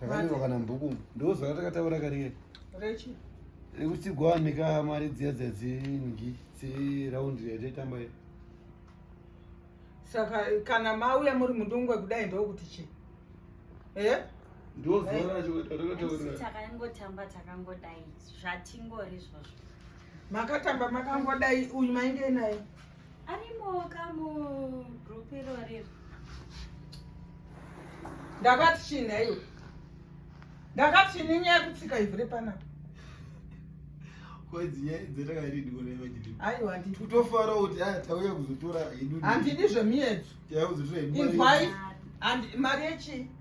Takanyorwa kana mubhuku. Ndozwa ratakataura kariye. Rechi. Rekuti gwanika mari dziya dzadzingi dzi round yataitamba ye. Saka kana mauya muri mudungwe kudai ndokuti chi. Eh? Ndozwa racho ratakataura. Takangotamba takangodai zvatingori zvozvo. Makatamba makangodai uyu mainge naye. arimoka mugroup irorero ndakati chii nhaiwe ndakati chini nyaya yekutsika ivhu repanapa aiwa totofara kuti ah, tauya kuzotora handidi zvemiedzo inzwai mari yechii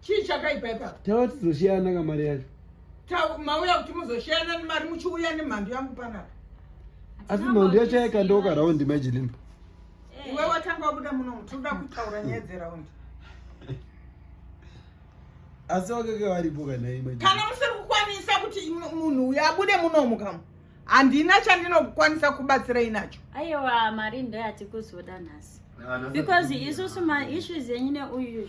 chii chakaipa ipapo tava tizoshiyana ka mari yacho mauya kuti muzoshiyana nemari muchiuya nemhandu yangu panapa asi mhandu yacho yaikandooka raundi majilimba eh. iwe watanga wabuda muno mutoda kutaura nyaya dzeraundi asi wakake varipo kanaikana musiri kukwanisa kuti munhu uyo abude munomu kama handina chandinokwanisa kubatsirai nacho aiwa mari ndoyatikuzoda nhasi because isusu maissues enyu neuyu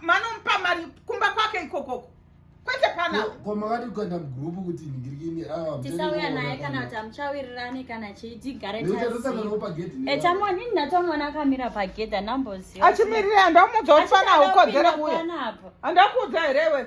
manomupa mari kumba kwake ikokoko kwete panao ko makati kuenda mugrupu kuti ningirikini ah, tisauya naye kana kuti amuchawirirane kana chii tigare taetamwa nini ndatomona akamira pagedha namboziva achimirira andamuudza kuti fana ukodzera kuya andakuudza here iwe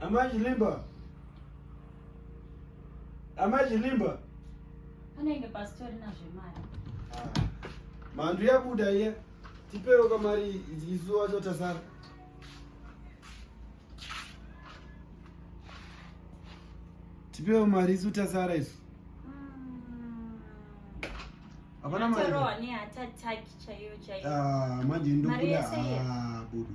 Amai Chilimba. Amai Chilimba. Anenge pastori na zvemari. Ah. Mandu yabuda iye. Tipewo kamari izuwa chotasara. Tipewo mari isu tasara isu. Hmm. Hapana mari. Torowa ni attack chaiyo chaiyo. Ah, manje ndokuda. Ah, budu.